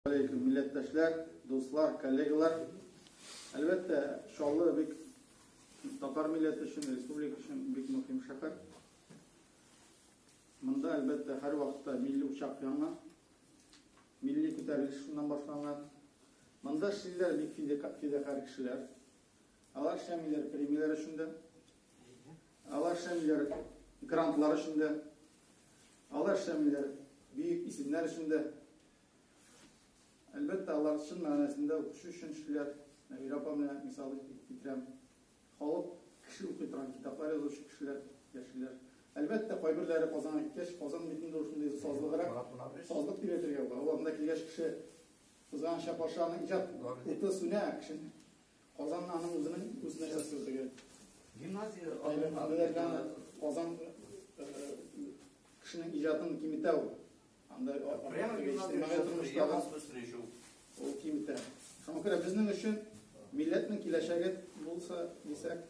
Алейкум, милләттәшләр, дуслар, коллегалар. Әлбәттә, Чаллы бик татар милләте өчен, республика өчен бик мөһим шәһәр. Монда, әлбәттә, һәр вакытта милли учак яна, милли күтәрелеш шуннан башланган. Монда эшлиләр бик фидакарь кешеләр. Алар эшләмиләр премияләр өчен дә, алар эшләмиләр грантлар өчен дә. Алар эшләмиләр, бөек исемнәр өчен дә. Әлбәттә, алар чын мәгънәсендә укучы өчен эшлиләр. Нәбирә апа менә мисал итеп китерәм. Халык, кеше укый торган китаплар язучы кешеләр яшиләр. Әлбәттә, кайберләре Казанга киткәч, Казан бит инде ул шундый сазлыграк, сазлык дип әйтергә була. Ул анда килгәч кеше кызганыча каршы аны иҗат уты сүнә, кеше Казан аның үзенең үз нәрсәсе теге. Гимназия Казан кешенең иҗатын киметә ул. Анда прямо гимназия встречу. Ул киметә. Шуңа күрә безнең өчен милләтнең киләчәге булса дисәк,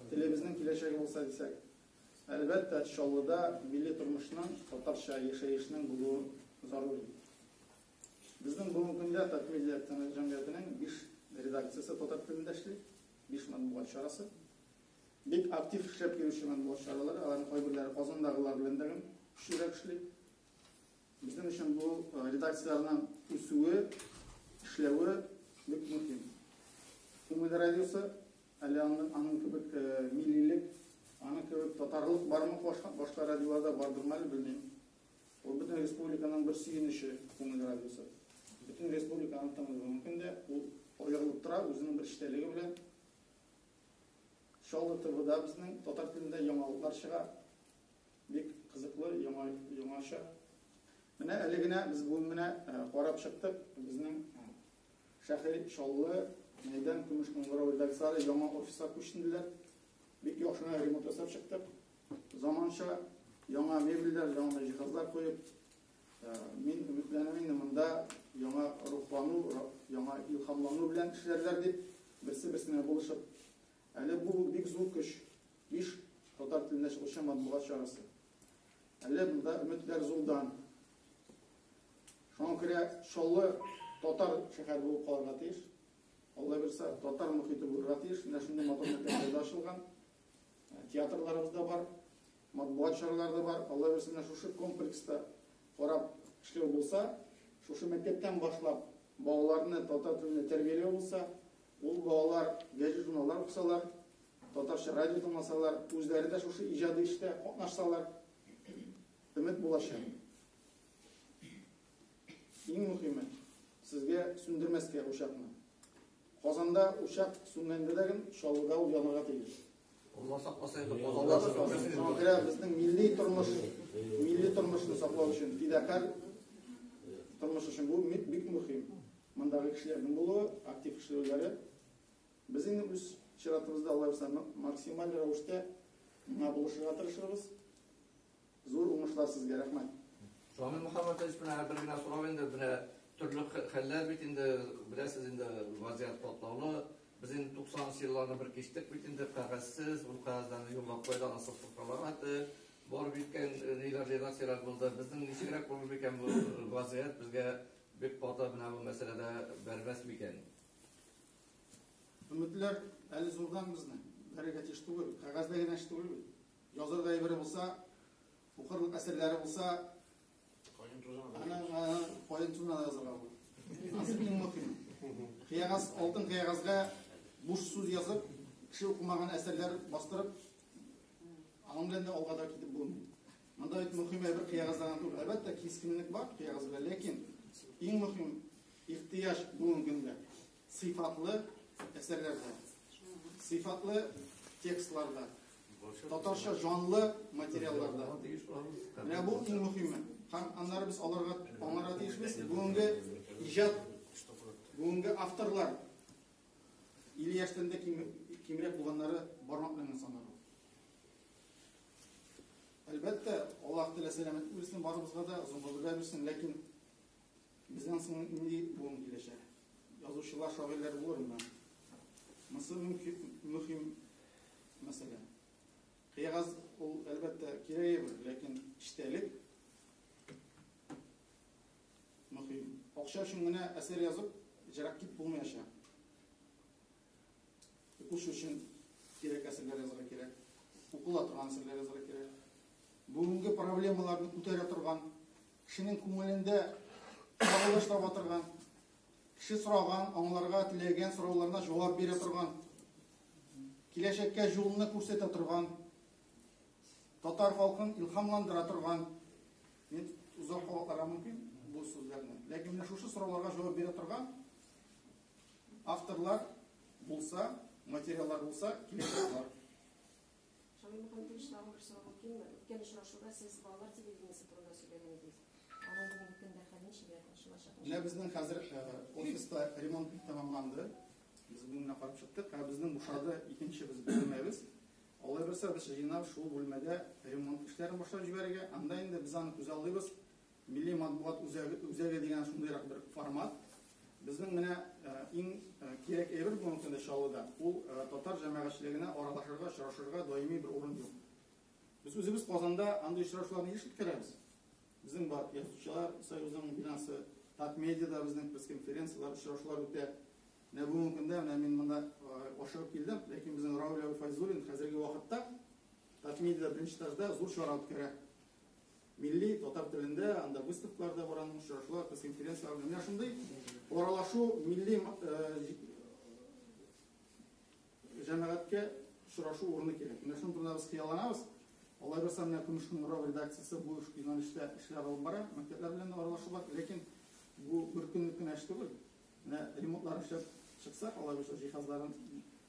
телебезнең киләчәге булса дисәк, әлбәттә, Чаллыда милли тормышның, татарча яшәешнең булуы зарур. Безнең бүгенге көндә Татмедиа акционер җәмгыятенең биш редакциясе татар телендә эшли, биш матбугат чарасы. Бик актив эшләп йөрүче матбугат чаралары, аларның кайберләре Казандагылар белән дә көчлерәк эшли. Безнең өчен бу э, редакцияләрнең үсүе, эшләве бик мөһим. Күңел радиосы әле аны аның кебек э, миллилек, аның кебек татарлык бармы башка башка радиоларда бардырмы әле белмим. Ул бөтен республиканың бер сөенече, күңел радиосы. Бөтен республика аны тыңлый бүгенге көндә. Ул аерылып тора үзенең бер эчтәлеге белән. Чаллы ТВда безнең татар телендә яңалыклар чыга. Бик кызыклы, яңа, яңача. Менә әле генә без бүген менә карап чыктык безнең шәһри Чаллы мәйдан Көмеш Кыңгырау редакцияләре яңа офиска күченделәр. Бик яхшы ремонт ясап чыктык. Заманча яңа мебельләр, яңа җиһазлар куеп, э, мин өметләнәм инде монда яңа рухлану, яңа илһамлану белән эшләрләр дип, берсе-берсенә булышып. Әле бу бик зур көч, биш татар телендә чыгучы матбугат чарасы. Әле монда өметләр зурдан. Шуңа күрә Чаллы татар шәһәре булып калырга тиеш. Алла бирса, татар мөхите булырга тиеш. Менә шундый матур мәктәпләрдә ачылган. Театрларыбыз да бар, матбугат чаралары да бар. Алла бирсен, менә шушы комплекста карап эшләү булса, шушы мәктәптән башлап балаларны татар телендә тәрбияләү булса, ул балалар гәҗит журналлар укысалар, татарча радио тыңласалар, үзләре дә шушы иҗади эштә катнашсалар, өмет булачак. Иң мөхиме, сезгә сүндермәскә учакны. Казанда учак сүнгәндә дә гел Чаллыда ул янырга тиеш. Алла сакласа инде Алла сакласа. Шуңа күрә безнең милли тормыш, милли тормышны саклау өчен фидакарь тормыш өчен бу бик мөһим. Мондагы кешеләрнең булуы, актив эшләүләре. Без инде үз чиратыбызда аларса максималь рәвештә миңа булышырга тырышырбыз. Зур уңышлар сезгә, рәхмәт. Шамил Мөхәммәтович менә бер генә сорау инде, менә төрле хәлләр бит инде, беләсез инде, вазият катлаулы. Без инде 90 елларны бер кичтек бит инде, кәгазьсез, ул кәгазьләрне юллап кайда ана сыртыккалар аты, бар биткән ниләр редакцияләр булды. Безнең ничегрәк булыр микән бу вазият безгә бик каты менә бу мәсьәләдә бәрбәс микән? Өметләр әле зурдан безнең. Бәрегә тиеш түгел. Кәгазьдә генә эш түгел бит. Язырга әйбере булса, укырлык әсәрләре булса, Каен тузына да. ана ана каен тузына да язарга була. Анысы иң мөһим. Кыягаз, алтын кыягазга буш сүз язып, кеше укымаган әсәрләр бастырып, аның белән дә алга да китеп булмый. Монда бит мөһим әйбер кыягазда гына түгел. Әлбәттә, кискенлек бар кыягазда, ләкин иң мөһим ихтыяҗ бүгенге көндә. Сыйфатлы әсәрләрдә, сыйфатлы текстларда, татарча җанлы материалларда. Менә бу иң мөһиме. Һәм аннары без аларга аңара тиешбез. Бүгенге иҗат, бүгенге авторлар или яшьтән дә кимрәк булганнары бармак белән санарга. Әлбәттә, Аллаһ Тәгалә сәламәтлек бирсен барыбызга да, озын гомер бирсен, ләкин Безнен соң нинди буын киләчәк? Язучылар, шагыйрьләр булырмы? Монысы мөһим мәсьәлә. Кыягаз ул, әлбәттә, кирәге бер, ләкин эчтәлек мөһим. Акча өчен генә әсәр язып, җырак кит булмаячак. Укучы өчен кирәк әсәрләр язырга кирәк, укыла торган әсәрләр язырга кирәк. Бүгенге проблемаларны күтәрә торган, кешенең күңелендә кагылыш таба торган, кеше сораган, аңларга теләгән сорауларына җавап бирә торган, киләчәккә юлны күрсәтә торган, татар халкын илһамландыра торган. Мин озак кабатларга мөмкин бу сүзләрне. Ләкин менә шушы сорауларга җавап бирә торган Авторлар булса, материаллар булса, киләсе булар. Шамил Мөхәммәтович, тагын бер сорау мөмкинме? Үткән очрашуда сез балалар телевидениесе турында сөйләгән идегез. Аның бүгенге көндә хәле ничек ачылачак? Менә безнең хәзер э, офиста ремонт тәмамланды. Без бүгеннән карап чыктык. Ә безнең бушады икенче без бүлмәбез. Алай булса, без җыйнап шул бүлмәдә ремонт эшләрен башлап җибәрергә. Анда инде без аны күзаллыйбыз. Милли матбугат үзәге дигән шундыйрак бер формат. Безнең менә иң кирәк әйбер бүгенге көндә Чаллыда, ул татар җәмәгатьчелегенә аралашырга, очрашырга даими бер урын юк. Без үзебез Казанда андый очрашуларны еш үткәрәбез. Безнең бар Язучылар союзының бинасы, Татмедиада безнең пресс-конференцияләр, очрашулар үтә. Менә бүгенге көндә менә мин монда ашыгып килдем, ләкин безнең Рауль Файзуллин хәзерге вакытта Татмедиада беренче этажда зур чара үткәрә. Милли татар телендә анда выставкалар да бар, аның очрашулар, пресс-конференцияләр. Менә шундый аралашу милли җәмәгатькә очрашу урыны кирәк. Менә шуның турында без хыялланабыз. Алай булса, менә Көмеш кыңгырау редакциясе бу юнәлештә эшләр алып бара, мәктәпләр белән дә аралашу бар. Ләкин бу бер көнлек кенә эш түгел. Менә ремонтлар эшләп чыксак, алай булса, җиһазларын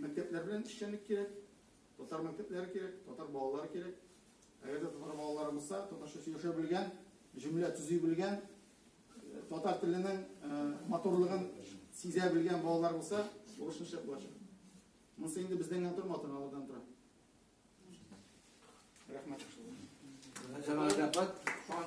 Мәктәпләр белән эшчәнлек кирәк, татар мәктәпләре кирәк, татар балалары кирәк. Әгәр дә татар балалары булса, татарча сөйләшә белгән, җөмлә төзи белгән, татар теленең матурлыгын сизә белгән балалар булса, бурычны шәп булачак. Монысы инде бездән генә тормый, ата-аналардан тора. Рәхмәт. Рәхмәт.